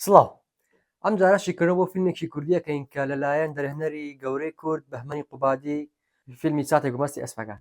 سڵاو. ئەم جارە شیکردنەوە بۆ فیلمێکی کوردی ئەکەین کە لە لایەن دەرهێنەری گەورەی کورد بەهمەنی قوبادی فیلمی چاتێک و مەستی ئەسپەکان.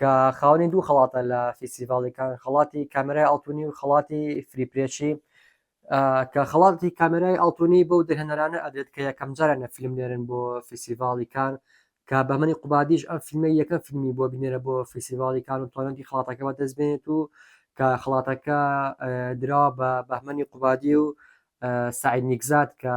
کە خاوەنی دوو خەڵاتە لە فیستیڤاڵی کان، خەڵاتی کامێرای ئاڵتونی و خەڵاتی فری پرێشی، کە خەڵاتی کامێرای ئاڵتونی بەو دەرهێنەرانە ئەدرێت کە یەکەمجارانە فیلم نێرن بۆ فیستیڤاڵی کان، کە بەهمەنی قوبادیش ئەم فیلمەی یەکەم فیلمی بووە بینێرە بۆ فیستیڤاڵی کان و توانیویەتی خەڵاتەکە بەدەست بێنێت و کە خەڵاتەکە دراوە بە بەهمەنی قوبادی و سەعید نیکزاد کە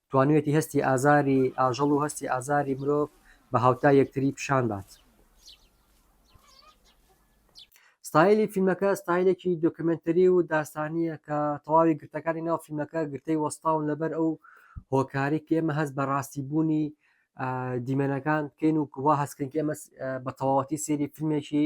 توانیویەتی هەستی ئازاری ئاژەڵ و هەستی ئازاری مرۆڤ بە هاوتای یەکتری پیشان بات. ستایلی فیلمەکە ستایلێکی دۆکمنتری و داستانیە کە تەواوی گرتەکانی ناو فیلمەکە گرتەی وەستاون لەبەر ئەو هۆکاری کە ئێمە هەست بە ڕاستی بوونی دیمەنەکان بکەین و کووا هەستکردن ئێمە بە تەواوەتی سێری فیلمێکی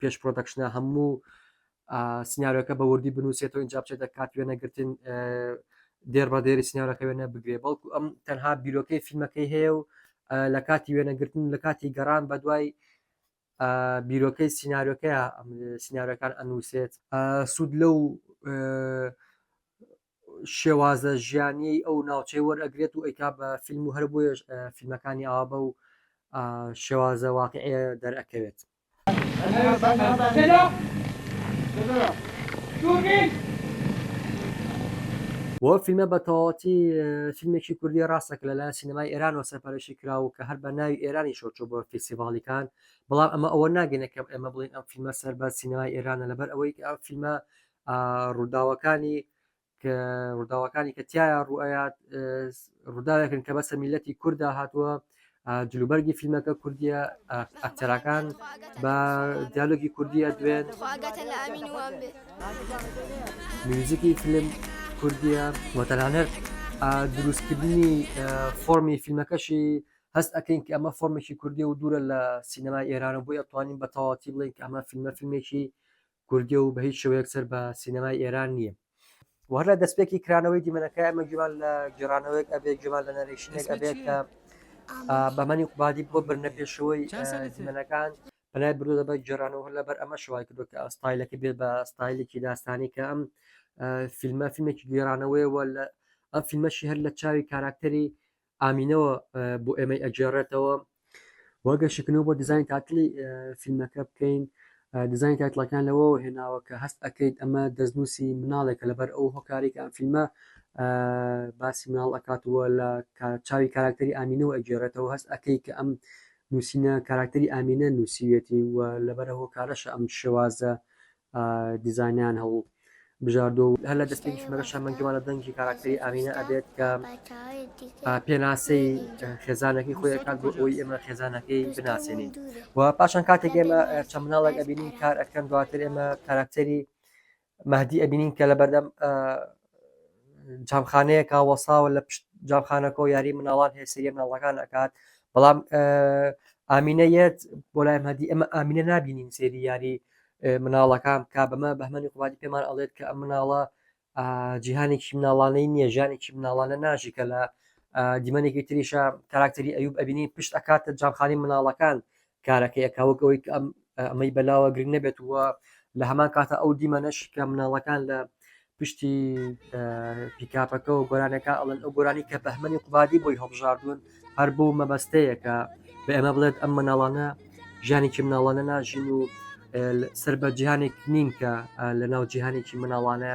پێش پرۆدەکشنە هەموو سناریۆکە بە وردی بنووسێتەوە اینجا بچێتە کات وێنەگرتن دێر بە دێری سناریۆکە وێنە بگرێ بەڵکو ئەم تەنها بیرۆکەی فیلمەکەی هەیە و لە کاتی وێنەگرتن لە کاتی گەڕان بە دوای بیرۆکەی سناریۆکەیە سناریۆکان ئەنووسێت سوود لەو شێوازە ژیانیەی ئەو ناوچەی وەرئەگرێت و ئەیکا بە فیلم و هەر بۆیە فیلمەکانی ئاوا بە و شێوازە واقعێ دەرئەکەوێت. بۆ فیلمە بە تەواتی فیلمێکی کوردی ڕاستە کە لەلایەن سینەمای ئێرانەوە سەرپەرشی کرا و کە هەر بە ناوی ئێرانی شۆچۆ بۆ فیسیڤاڵیکان بەڵام ئەمە ئەوە ناگەێنە کەم ئێمە بڵین ئەم فیلمە سەر بە سینەمای ئێرانە لەبەر ئەوەی ئەم فیلمە ڕووداوەکانی ڕووداوەکانی کە تایە ڕوئەات ڕووداوێکن کە بەسە میلەتی کووردا هاتووە جلوبەرگی فیلمەکە کوردیە ئەکتەرەکان بە دیالۆگی کوردیە دوێن میوزیکی فیلم کوردیە وەتەنانەر دروستکردنی فۆمی فیلمەکەشی هەست ئەکەین کە ئەمە فۆرمێکی کوردی و دوورە لە سینەما ئێرانە بۆی ئەتوانین بە تەواتی بڵێن کە ئەمە فیلمە فیلمێکی کوردیە و بە هیچ شێوەیەک سەر بە سینەمای ئێران نییە. و هەر لە دەستپێکی کرانەوەی دیمەنەکە ئەمە گوێمان لە گێڕانەوەیەک ئەبێت گوێمان لە نەرێشنێک ئەبێت کە بەمەنی قوبادی بۆ برنە پێشەوەی دیمەنەکان پلای برو دەبە گێڕانەوە هەر لەبەر ئەمە شوای کردو کە ئەستایلەکە بێت بە ستایلێکی داستانی کە ئەم فیلمە فیلمێکی گێرانەوەیەوە لە ئەم فیلمەشی هەر لە چاوی کاراکتەری ئامینەوە بۆ ئێمەی ئەگێڕێتەوە وە گەشتکردنەوە بۆ دیزانی تاتلی فیلمەکە بکەین دیزانی تاتلەکان لەوە هێناوە کە هەست ئەەکەیت ئەمە دەستنووسی مناڵێکە لەبەر ئەو هۆکارێک ئەم فیلمە باسی مناڵ ئەکاتوە لە چاوی کاراکتەری ئامینەوە ئەگێڕێتەوە هەست ئەەکەی کە ئەم نووسینە کاراکتەری ئامینە نووسیوێتی و لەبەر هۆکارەشە ئەم شێوازە دیزاینیان هەڵ بژاردووە و هەر لە دەستپێکی فیلمەکەشە من گومان لە دەنگی کاراکتەری ئامینە ئەبێت کە پێناسەی خێزانەکەی خۆی کات بۆ ئەوی ئێمە خێزانەکەی بناسێنین و پاشان کاتێک ئێمە چە مناڵێک ئەبینین کار ئەکەن دواتر ئێمە کاراکتەری مادی ئەبینین کە لە بەردەم جامخانەیەکە وەساوە لە پشت جامخانەکە و یاری مناڵان هەیە سریە مناڵەکان ئەکات بەڵام ئامینە یەت بۆ لای مەدی ئەمە ئامینە نبینین سێری یاری مناڵەکان کا بەمە بەمەنی قوبادی پێمان ئەڵێت کە ئەم مناڵە جیهانێکی مناڵانەی نییە ژانێکی مناڵانە ناژی کە لە دیمەنێکی تریشە کاراکتەری ئەوب ئەبینی پشت ئەکاتە جامخانی مناڵەکان کارەکەی ئەکا وەک ئەوەی کە ئەم ئەمەی بەلاوە گرنگ نەبێت وە لە هەمان کاتە ئەو دیمەنەش کە مناڵەکان لە پشتی پیکاپەکە و گۆرانەکە ئەڵەن ئەو گۆرانی کە بەهمەنی قوبادی بۆی هەڵبژاردون هەر بۆ مەبەستەیە کە بە ئێمە بڵێت ئەم مناڵانە ژیانێکی مناڵانە ناژین و سەر بە جیهانێک نین کە لە ناو جیهانێکی مناڵانە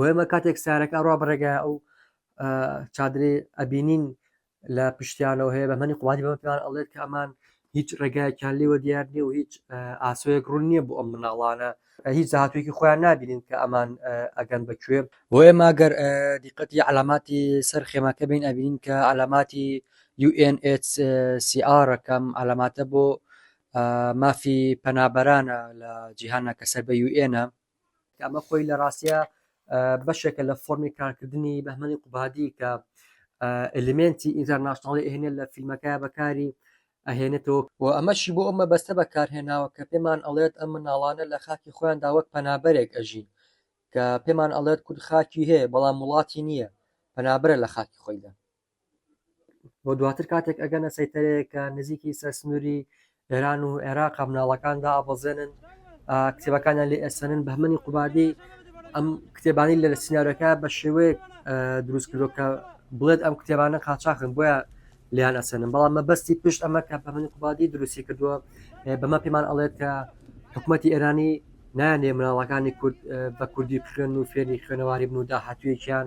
وێمە کاتێک سارەک ئەڕوا بڕێگە ئەو چادرێ ئەبینین لە پشتیانەوە هەیە بە منی قوباتی بەمە پێیان ئەڵێت کە ئەمان هیچ ڕێگایەکیان لێوە دیار نیە و هیچ ئاسۆیەک ڕوون نییە بۆ ئەم مناڵانە هیچ زاهاتوێکی خۆیان نبینین کە ئەمان ئەگەن بەکوێ بۆ ئێمە گەر دیقەتی علاماتی سەر خێماکە بین ئەبین کە علاماتی UNHCR کەم علاماتە بۆ مافی پەنابەرانە لە جیهانە کە سەر بە یوئێنە کە ئەمە خۆی لە ڕاستیا بەشێکە لە فۆرمی کارکردنی بەهمەنی قوبادی کە ئەلیمنتی ئینتەرناشناڵی ئەهێنێ لە فیلمەکە بەکاری ئەهێنێتەوە و ئەمەشی بۆ ئەو مەبەستە بەکارهێناوە کە پێمان ئەڵێت ئەم مناڵانە لە خاکی خۆیان داوەک پەنابەرێک ئەژین کە پێمان ئەڵێت کورد خاکی هەیە بەڵام وڵاتی نییە پەنابرە لە خاکی خۆیدا بۆ دواتر کاتێک ئەگەنە سەیتەرەیە کە نزیکی سەرسنووری ئێران و عێراق مناڵەکاندا ئابەزێنن کتێبەکانیان لێ ئەسەنن بەمەنی قوبادی ئەم کتێبانی لە سینناەکە بە شێوەیە دروست کردو کە بڵێت ئەم کتێبانە قاچاخن بۆیە لیان ئەسەنن بەڵام مەبەستی پشت ئەمە کە بەمەنی قوبادی دروستی کردووە بەمە پێمان ئەڵێت کە حکوومەتتی ئێرانی نایانێ مناڵەکانی کورد بە کوردی بخوێن و فێری خوێنەواری بن و داهاتوویەکیان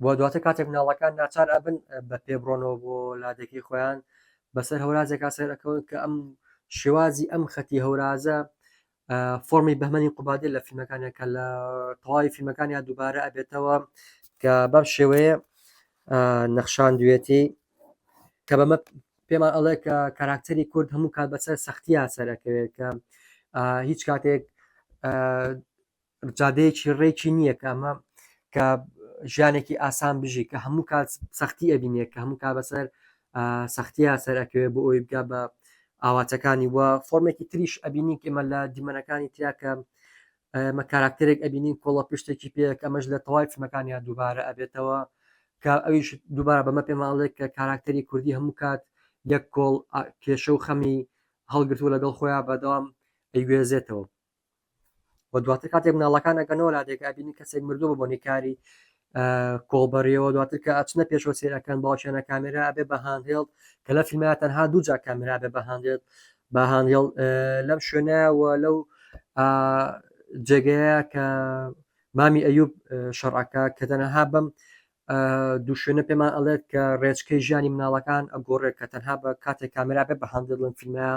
و دواتر کاتێک مناڵەکان ناچار ئەبن بە پێ بڕۆنەوە بۆ لادێکەی خۆیان بەسەر هەورازێکا سەیرەکەون کە ئەم شێوازی ئەم خەتی هەورازە فۆمی بەمەنی قوبادێ لە فیلمەکانە کە لە تەواوی فیلمەکانیان دووبارە ئەبێتەوە کە بەم شێوەیە نەخشان دوێتی کە بەمە پێمان ئەڵێ کە کاراکتەری کورد هەموو کات بەسەر سەختیا سەرەکەوێت کە هیچ کاتێک جادەیەکی ڕێکی نییە کە ئەمە کە ژیانێکی ئاسان بژی کە هەموو کات سەختی ئەبینێ کە هەموو کا بەسەر سەختیا سەرەکەوێ بۆ ئەوی بگا بە ئاواتەکانی وە فۆرمێکی تریش ئەبینی ئمە لە دیمەنەکانی تیاکە ئێمە کاراکتەرێک ئەبینین کۆڵە پشتێکی پێک ئەمەش لە تەواوی فیلمەکانیان دووبارە ئەبێتەوە کە ئەویش دووبارە بەمە پێماڵێک کە کاراکتەری کوردی هەموو کات یەک کۆڵ کێشە و خەمی هەڵگرتوو لەگەڵ خۆیان بەدەوام ئەیگوێزێتەوە و دواتر کاتێک مناڵەکان ئەگەنەوە لادێک ئەبینی کەسێک مردوو بە بۆنی کاری کۆڵبەریەوە دواتر کە ئەچنە پێشەوە سێرەکەن باوکیانە کامێرا ئەبێ بە هاندێڵ کە لە فیلمە تەنها دووجا کامێرا بێ بە هاندێت بە هاندێڵ لەم شوێنەوە لەو جێگەیە کە مامی ئەیوب شەڕعەکە کە تەنەها بم دوو شوێنە پێمان ئەڵێت کە ڕێچکەی ژیانی مناڵەکان ئەگۆڕێت کە تەنها بە کاتێک کامێرا بێ بە هاندێڵن فیلمە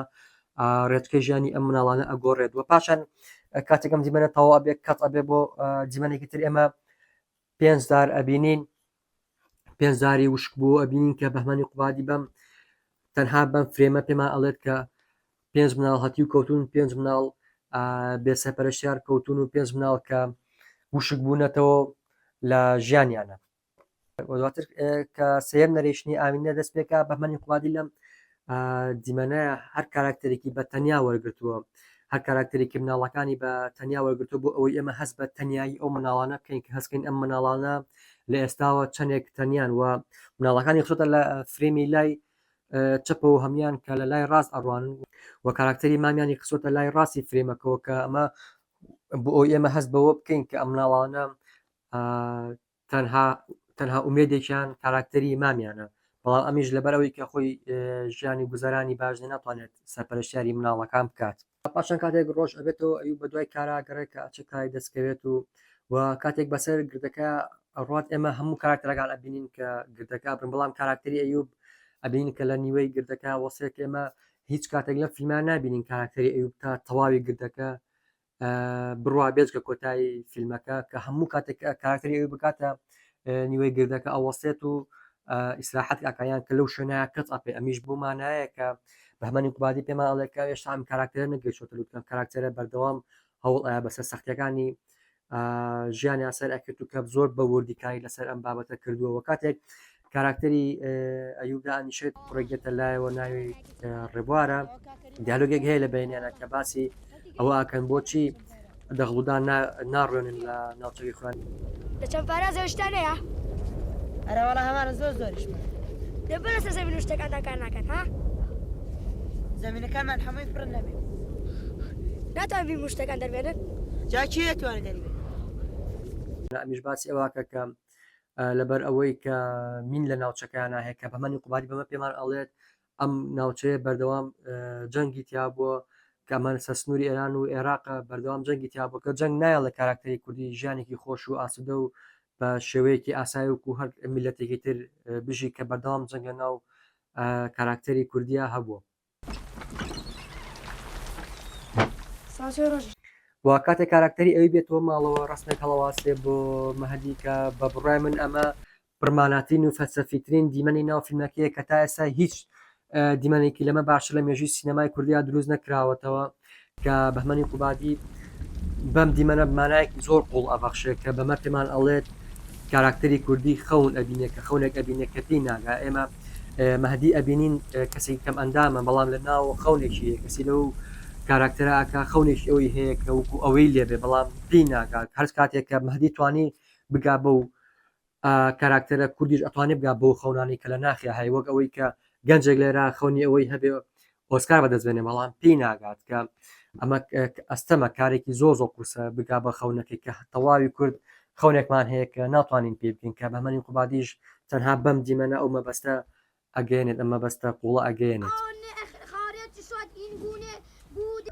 ڕێچکەی ژیانی ئەم مناڵانە ئەگۆڕێت و پاشان کاتێک ئەم دیمەنە تەوا ئەبێ کەت ئەبێ بۆ دیمەنێکی تر ئێمە پێنجدار ئەبینین پێنجداری وشک بوو ئەبینین کە بەهمانی قوبادی بەم تەنها بەم فرێمە پێمان ئەڵێت کە پێنج مناڵ هەتی و کەوتون پێنج مناڵ بێسەپەرشتیار کەوتون و پێنج مناڵ کە وشک بوونەتەوە لە ژیانیانە و دواتر کە سێم نەرێشنی ئاوینە دەست پێکا بەمەنی قوادی لەم دیمەنە هەر کاراکتەرێکی بە تەنیا وەرگتووە هەر کاراکتەرێکی مناڵەکانی بە تەنیا وەرگتو بۆ ئەوەی ئێمە هەست بە تەنایی ئەو مناڵانە بکەین کە هەستکەین ئەم مناڵانە لە ئێستاوە چەندێک تەنیان و مناڵەکانی خۆتە لە فرێمی لای چەپە و هەمان کە لە لای ڕاست ئەڕوان و کاراکتەری مامیانی قسۆتە لای ڕاستی فرێمەکەەوە کە ئەمە بۆ ئەو ئێمە هەست بەوە بکەین کە ئەم مناڵانە تەنها تەنها ئومێدێکیان کاراکتەری مامیانە بەڵام ئەمیش لەبەر ئەوەی کە خۆی ژیانی گوزەرانی باش ناتوانێت سەرپەرشتیاری مناڵەکان بکات پاشان کاتێک ڕۆژ ئەبێتەوە ئەوی بە دوای کارا گەڕێک کە ئەچێت کاری دەستکەوێت و و کاتێک بەسەر گردەکە ئەڕات ئێمە هەموو کاراکتەرەکان ئەبینین کە گردەکە بن بەڵام کاراکتەری ئەیوب ئەبین کە لە نیوەی گردەکە وەسێت ئێمە هیچ کاتێک لە فیلمان نبینین کاراکتەری ئەوب تا تەواوی گردەکە بڕوا بێجگە کۆتایی فیلمەکە کە هەموو کاتێک کارکتری ئەوی بکاتە نیوەی گردەکە ئەوەسێت و ئیسراحەت ئەکایان کە لەو شوێنە کەس ئەپێ ئەمیش بۆمانایە کە بەمەنی قوبادی پێمان ئەڵێکە ئێشتا ئەم کاراکتەرە نەگەشتە لوتکەم کاراکتەرە بەردەوام هەوڵ ئایا بەسەر سەختەکانی ژیانی ئاسەر ئەکرد و کە زۆر بە وردیکاری لەسەر ئەم بابەتە کردووەوە کاتێک کاراکتەری ئەیوب دانیشێت کوڕێک دێتە لایەوە ناوی ڕێبوارە دیالۆگێک هەیە لە بینیانە کە باسی ئەوە ئاکەن بۆچی دەغڵودان ناڕوێنن لە ناوچەوی خوێن لە چەند پارازە شتانەیە ئەرەوەڵە هەمانە زۆر زۆریش لە بەرە سە زەمین شتەکاندا کار ناکەن ها زمینەکانمان هەمووی پڕ نەبێت ناتوان بی مشتەکان دەربێنن جاکی توانێت دەربێت ئەمیش باسی ئەوواکە کەم لەبەر ئەوەی کە مین لە ناوچەکەیانە هەیە کە بەمەنی قوبادی بەمە پێمان ئەڵێت ئەم ناوچەیە بەردەوام جەنگی تیا بووە کەمان سە سنووری ئێران و عێراق بەردەوام جەنگی تیا بووکە جەنگ نایە لە کاراکتەری کوردی ژیانێکی خۆش و ئاسودە و بە شێوەیەکی ئاسای وکو هەر میلەتێکی تر بژی کە بەردەوام جەنگە ناو کاراکتەری کوردیا هەبووە وە کاتێک کاراکتەری ئەوی بێتەوە ماڵەوە ڕەسمێک هەڵەواسێ بۆ مەهدی کە بە بڕای من ئەمە پڕماناترین و فەلسەفیترین دیمەنی ناو فیلمەکەیە کە تا ئێستا هیچ دیمەنێکی لەمە باشتر لە مێژووی سینەمای کوردیا دروست نەکراوەتەوە. کە بەهمەنی قوبادی بەم دیمەنە مانایەکی زۆر قوڵ ئەبەخشێ کە بەمە پێمان ئەڵێت کاراکتەری کوردی خەون ئەبینێ کە خەونێک ئەبینێ کە پێی ناگا ئێمە مەهدی ئەبینین کەسێکی کەم ئەندامە بەڵام لە ناو خەونێکی هەیە کەسی لەو کاراکتەراکە خەونێکی ئەوەی هەیە کە وکو ئەوەی لێبێ بەڵام پێی ناگات هەر کاتێک کە مەهدی توانی بگا بەو ئا کاراکتەرە کوردیش ئەتوانێ بگا بەو خەونانەی کە لە ناخیا هەیە وەک ئەوەی کە گەنجێک لێرە خەونی ئەوەی هەبێ ئۆسکار بەدەست بێنێ بەڵام پێی ناگات کە ئەمە ئەستەمە کارێکی زۆر زۆر قورسە بگا بە خەونەکەی کە تەواوی کورد خەونێکمان هەیە کە ناتوانین پێ بکەین کە بەمەنی قوبادیش تەنها بەم دیمەنە ئەو مەبەستە ئەگەیەنێت ئەم مەبەستە قووڵە ئەگەیەنێت.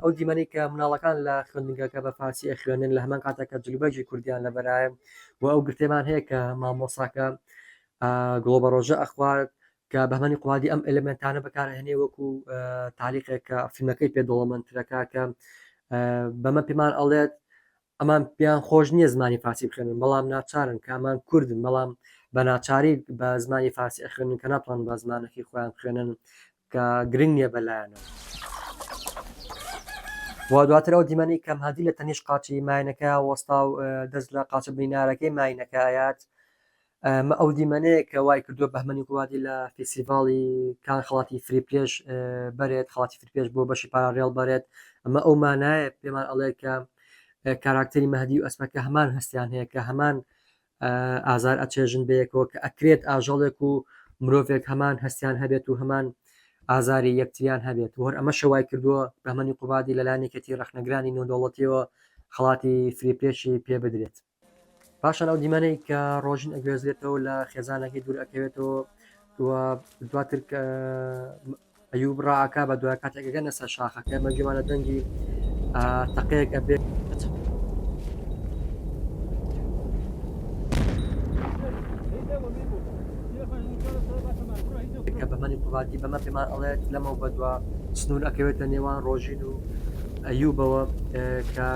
ئەو دیمەنەی کە مناڵەکان لە خوێندنگەکە بە فارسی ئەخوێنن لە هەمان کاتەکە جلوبەرگی کوردیان لەبەرایە و ئەو گرتێمان هەیە کە مامۆساکە گڵۆ بە ڕۆژە ئەخوارد کە بەمەنی قوادی ئەم ئەلمنتانە بەکارهێنێ وەکو تاریخێکە فیلمەکەی پێ دەوڵەمەندترەکە کە بەمە پێمان ئەڵێت ئەمان پێیان خۆش نیە زمانی فارسی بخوێنن بەڵام ناچارن کە ئەمان کوردن بەڵام بە ناچاری بە زمانی فارسی ئەخوێنن کە ناتوانن بە زمانەکەی خۆیان بخوێنن کە گرنگ نیە بە لایانەوە. و دواتر ئەو دیمەنەی کە مهدی لە تەنیشت قاچی ماینەکەیا وەستا و دەست لە قاچە برینارەکەی ماینەکە ئەیات، ئەمە ئەو دیمەنەیە کە وای کردووە بەهمەنی گوڵادی لە فیسیڤاڵی کان خڵاتی فری پێش بەرێت خڵاتی فری پێش بۆ بەشی پاراڕێڵ بەرێت ئەمە ئەو مانایە پێمان ئەڵێ کە کاراکتەری مەهدی و ئەسمەکە هەمان هەستیان هەیە کە هەمان ئازار ئەچێژن بەیەکەوە کە ئەکرێت ئاژەڵێک و مرۆڤێک هەمان هەستیان هەبێت و هەمان ئازاری یەکتریان هەبێت وەر ئەمە شەوای کردووە بەمەنی قوبادی لەلایەنێکەتی ڕخنەگرانی نۆدەوڵەتیەوە خڵاتی فریپێشی پێ بدرێت پاشان ئەو دیمەنەی کە ڕۆژین ئەگوێزرێتەوە لە خێزانەکەی دوور ئەکەوێتەوە و دواتر ئەیوب ڕاکە بە دوای کاتێکەکەنە سەر شاخەکە مە گوێمانە دەنگی تەقەیەک ئەبێت کە بەمەنی قوبادی بەمە پێمان ئەڵێت لەمە بەدووە سنوور ئەکەوێتە نێوان ڕۆژین و ئەیوبەوە کە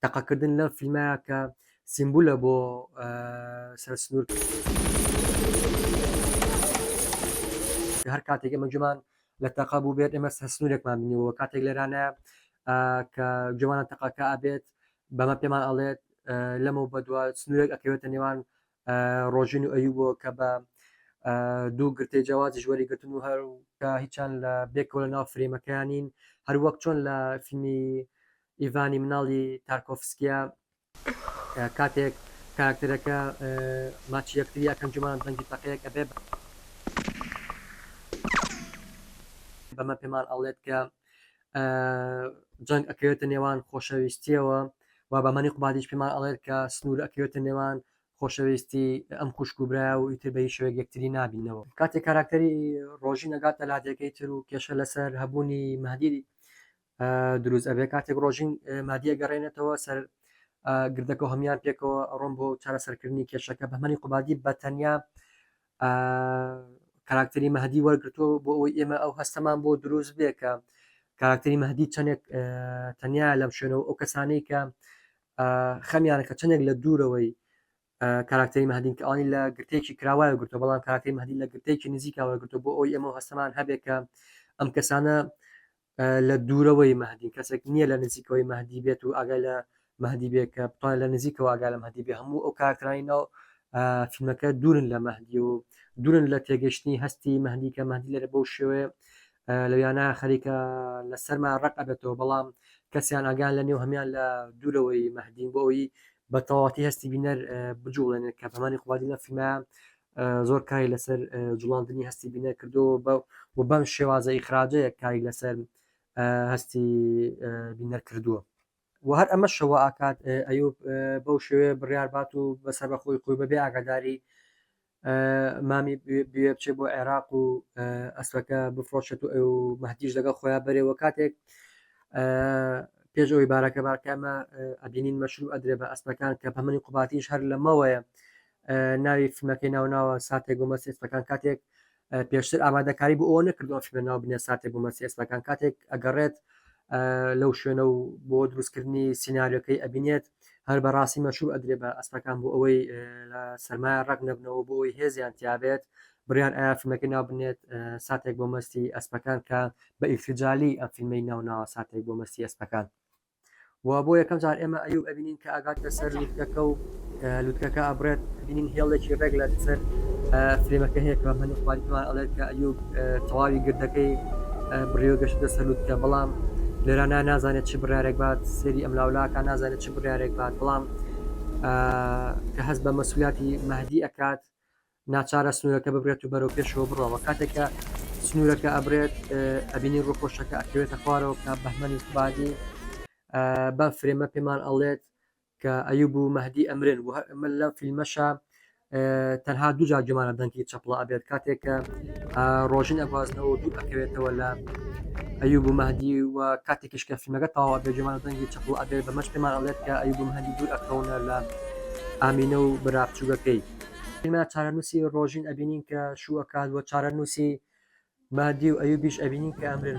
تەقەکردن لە فیلمە کە سیمبولە بۆ سەر سنوور هەر کاتێک ئەمە جومان لە تەقا بوو بێت ئێمە سەر سنوورێکمان بنیەوە کاتێک لێرانە کە جوانە تەقاکە ئابێت بەمە پێمان ئەڵێت لەمە بەدووە سنوورێک ئەکەوێتە نێوان ڕۆژین و ئەیوبۆ کە بە دوو گرتەی جیاوازیش وەریگرتن و هەر کە هیچیان لە بێکەوە لە ناو فرێمەکەیان نین هەروەک چۆن لە فیلمی ئیڤانی مناڵی تارکۆفسکیا کاتێک کاراکتەرەکە ماچی یەکتری یەکەم جومان دەنگی تەقەیەک ئەبێ بەمە پێمان ئەڵێت کە جەنگ ئەکەوێتە نێوان خۆشەویستیەوە و بەمەنی قوبادیش پێمان ئەڵێت کە سنوور ئەکەوێتە نێوان خۆشەویستی ئەم خوشک و برای و ئیتر بەی شوێک یەکتری نبینەوە کاتی کاراکتەری ڕۆژی نەگاتە لادێکەی تر و کێشە لەسەر هەبوونی مادیری دروست ئەبێ کاتێک ڕۆژین مادیە گەڕێنێتەوە سەر گردەکە هەمان پێکەوە ڕۆم بۆ چارەسەرکردنی کێشەکە بەمەنی قوبادی بەتەنیا کاراکتەری مەهدی وەرگتووە بۆ ئەوەی ئێمە ئەو هەستەمان بۆ دروست بێ کە کاراکتەری مەهدی چەندێک تەنیا لەم شوێنەوە ئەو کەسانەی کە خەمیانە کە چندێک لە دوورەوەی کاراکتەری مەدین کە ئەوانی لە گرتێکی کراوایە گرتو بەڵام کاراکتەری مەدی لە گرتێکی نزیکاوە گرتو بۆ ئەوی ئەمە هەستەمان هەبێت کە ئەم کەسانە لە دوورەوەی مەهدین کەسێک نییە لە نزیکەوەی مەهدی بێت و ئاگای لە مەهدی بێت کە بتوانێت لە نزیکەوە ئاگا لە مەهدی بێ هەموو ئەو کارکرانی ناو فیلمەکە دوورن لە مەهدی و دوورن لە تێگەشتنی هەستی مەهدی کە مەهدی لەرە بەو شێوێ لەویانە خەریکە لە سەرما ڕق ئەبێتەوە بەڵام کەسیان ئاگان لە نێو هەمان لە دوورەوەی مەهدین بۆ ئەوی بە تەواتی هەستی بینەر بجوڵێنێت کە بەمانی قوادی لە فیلمە زۆر کاری لەسەر جوڵاندنی هەستی بینەر کردەوە بە و بەم شێوازە ئیخراجەیە کاری لەسەر هەستی بینەر کردووە و هەر ئەمە شەوە ئاکات ئەیوب بەو شێوێ بڕاربات و بەسەر بەخۆی خۆی بەبێ ئاگاداری مامی بێ بچێ بۆ عێراق و ئەسەکە بفرۆشێت و ئەو مەهدیش لەگە خۆیان بەرێەوە کاتێک پێشەوەی بارەکە بارکەمە ئەبینین مەشروع ئەدرێ بە ئەسپەکان کە پەمەنی قوباتیش هەر لەمەوەیە ناوی فیلمەکەی ناوناوە ساتێک بۆ مەسی ئێسپەکان کاتێک پێشتر ئامادەکاری بۆ ئەوە نەکردووە فیلمە ناو بنێ ساتێک بۆ مەسی ئێسپەکان کاتێک ئەگەڕێت لەو شوێنە و بۆ دروستکردنی سینناریەکەی ئەبینێت هەر بەڕاستی مەشوب ئەدرێ بە ئەسپەکان بۆ ئەوەی لە سەرمایە ڕەق نەبنەوە بۆ ئەوی هێزیان تیاابێت بڕیان ئایا فیلمەکە ناو بنێت ساتێک بۆ مەستی ئەسپەکان کە بە ئیلفجالی ئەم فیلمی ناوناوە ساتێک بۆ مەستی ئەسپەکان و بۆ یەکەم جار ئێمە ئەیوب ئەبینین کە ئەگاتە سەر لوتکەکە و لوتکەکە ئەبرێت بینین هێڵێکی ڕێک لە سەر فرێمەکە هەیە کە هەنی خوارمان ئەڵێت کە ئەیوب تەواوی گردەکەی بڕێوە گەشتە سەر لوتکە بەڵام لێرانە نازانێت چی بڕارێک بات سێری ئەم لاولاکە نازانێت چی بڕارێک بات بەڵام کە هەست بە مەسوولەتی مەهدی ئەکات ناچارە سنوورەکە ببرێت و بەرەو پێشەوە بڕەوە کاتێکە سنوورەکە ئەبرێت ئەبینی ڕووخۆشەکە ئەکەوێتە خوارەوە کە بەهمەنی قبادی بە فرێمە پێمان ئەڵێت کە ئەیوب و مەهدی ئەمرن و ئەمە لە فیلمەشە تەنها دوو جار گومانە دەنگی چەپڵە ئەبێت کاتێکە ڕۆژین ئەگوازنەوە و دوو ئەکەوێتەوە لە ئەیوب و مەهدی و کاتێکیش کە فیلمەکە تاوا بێ گومانە دەنگی چەپڵ ئەبێت بەمەش پێمان ئەڵێت کە ئەیوب و مەهدی دوور ئەکەونە لە ئامینە و برا بچووگەکەی ئیمە چارەنووسی ڕۆژین ئەبینین کە شوو ئەکات و چارەنووسی مادی و ئەیوبیش ئەبینین کە ئەمرن.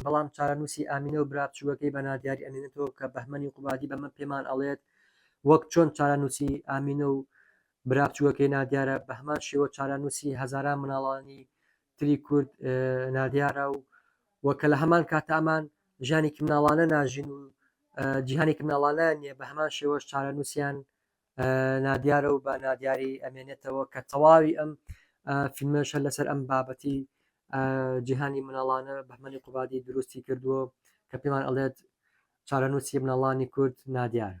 بەڵام چارەنووسی ئامینە و برا بچووکەکەی بە نادیاری ئەمێنێتەوە کە بەهمەنی قوبادی بەمە پێمان ئەڵێت وەک چۆن چارەنووسی ئامینە و برا بچووکەکەی نادیارە بەهەمان شێوە چارەنووسی هەزاران مناڵانی تری کورد نادیارە و وە کە لە هەمان کاتە ئەمان ژیانێکی مناڵانە ناژین و جیهانێکی مناڵانەیان نیە بە هەمان شێوەش چارەنووسیان نادیارە و بە نادیاری ئەمێنێتەوە کە تەواوی ئەم فیلمەش هەر لەسەر ئەم بابەتی جیهانی مناڵانە بەهمەنی قوبادی دروستی کردووە کە پێمان ئەڵێت چارەنووسی مناڵانی کورد نادیارە